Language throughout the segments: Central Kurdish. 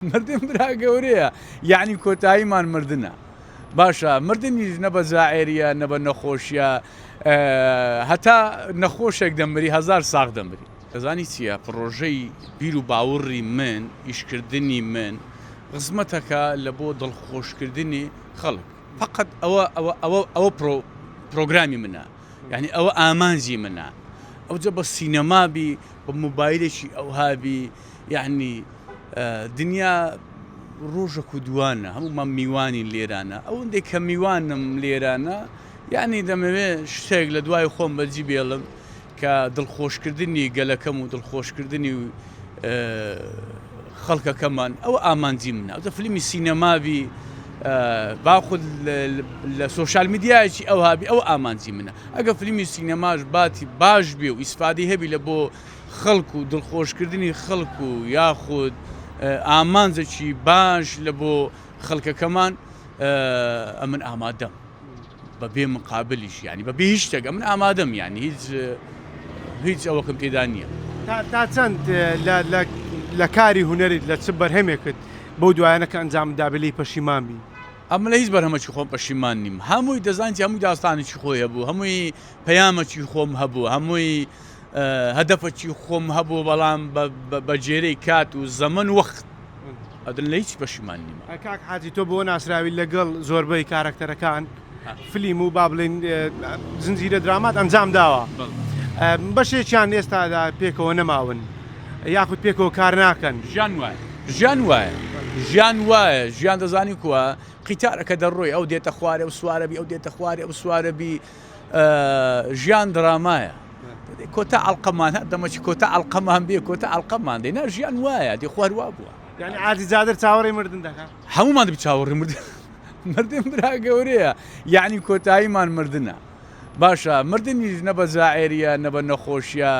مردن برا گەورەیە یەعنی کۆتاییمان مردنە باشە مردنیش نە بە زائریە نە بە نەخۆشیە هەتا نەخۆشێک دەمری هزار ساغ دەمری ئەزانی چییە پڕۆژەی بیر و باوڕی من ئیشکردنی من خزمەتەکە لە بۆ دڵخۆشکردنی خەڵک فقط ئەوە ئەوە ئەوە پرۆ پرۆگرامی منە یعنی ئەوە ئامانجی منە ئەوجە بە سینەمابی بە موبایلێکی ئەوهابی یەعنی دنیا ڕۆژەک و دووانە هەموومان میوانین لێرانە ئەوەندەی کە میوانم لێرانە یەعنی دەمەوێ شتێک لە دوای خۆم بەجی بێڵم کە دڵخۆشکردنی گەلەکەم و دڵخۆشکردنی و خەڵکەکەمان ئەو ئامانجی منە دە فلیمی سینەمابی باخود لە سوۆشال میدیایکی ئەو هابی ئەو ئامانجی منە ئەگە فلیمی سینەماش باتی باش بێ و ئیسفادی هەبی لە بۆ خەڵک و دڵخۆشکردنی خەڵک و یاخود ئامانجەکی باش لە بۆ خەڵکەکەمان ئەمن ئامادەم بە بێ مقابلیش ینی بە بێ هیچ شتێک ئەمن ئامادەم ینی هیچ هیچ ئەوەکەم پێدا نییە تا چەند لە کاری هوەریت لە چ بەرهەمێکت بەو دوایانە کە ئەنجام دابلی پەشیمان بی ئەمە لە هیچ بەرهەمەکی خۆم پەشیمان نیم هەمووی دەزانانی هەمووی داستانێکی خۆی هەبوو هەمووی پەیامەکی خۆم هەبوو هەمووی هەدەفەکی خۆم هەبوو بەڵام بە جێرەی کات و زەمەن وەخت ئەدن لە هیچ پەشیمان نیمە. کاک حاجی تۆ بۆ ناسراوی لەگەڵ زۆربەی کارەکتەرەکان فلیم و با بڵێین زنجیرە درامات ئەنجام داوە بەشێکیان ئێستادا پێکەوە نەماون یاخود پێکەوە کار ناکەن ژیان وایە ژیان وایە ژیان وایە ژیان دەزانی کووە قیتارەکە دەڕۆی ئەو دێتە خوارێ و سوارەبی ئەو دێتە خوارێ و سوارەبی ژیان درامایە کۆتا ئەڵلقەمان دەمەچ کۆتا ئەڵلقەمان بێ کۆتا ئەڵلقەمان دێ نا ژیان وایە دی خواروا بووە یعنی ئازی جادر چاوەڕی مردن دەکە هەمومان دەبی چاوەڕی مردن مردن برا گەورەیە یعنی کۆتاییمان مردە باشە مردنیش نە بە زائریە نە بە نەخۆشیە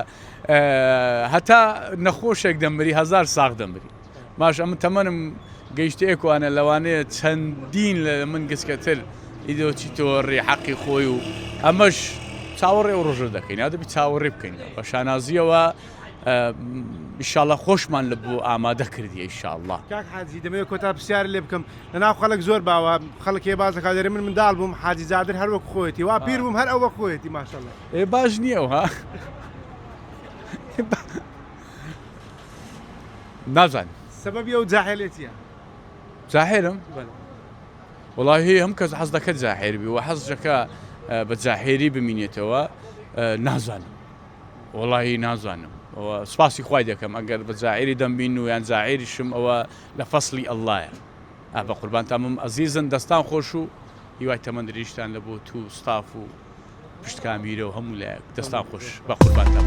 هەتا نەخۆشێک دەمری هزار ساغ دەمری ماش ئەمن تەمەنم گەیشتە ئێکوانە لەوانەیە چەندین لە من گچکەتر ئیدۆچی تۆڕی حەقی خۆی و ئەمەش چاوەڕێ ئەو ڕۆژە دەکەین یا دەبی چاوەڕێ بکەین بە شانازیەوە ئیشاڵە خۆشمان لە بۆ ئامادە کردی ئیشاءله کاک حاجی دەمەوێت کۆتا پرسیار لێ بکەم لەناو خەڵک زۆر باوە خەڵکێ بازەکە دەێ من منداڵ بووم حاجی زادر هەر وەک خۆێتی وا پیر بووم هەر ئەو وەک خۆێتی ماشەڵە ئێ باش نییە ها نازانم سەبەبی ئەو جاحێلێ چیە؟ جاحێلم؟ بەلێ. وەڵاهی هەموو کەس حەز دەکەت جاحێل بی و حەز دەکا بە جاحێلی بمینێتەوە نازانم وەڵاهی نازانم ئەوە سپاسی خوای دەکەم ئەگەر بە جاحێلی دەمبین و یان جاحێلیشم ئەوە لە فەسلی ئەللایە ئا بە قوربانتان بم ئەزیزن دەستان خۆش و هیوای تەمەن دریژتان لە بۆ تو ستاف و پشتکان میرە و هەموو لایەک دەستان خۆش بە قوربانتان.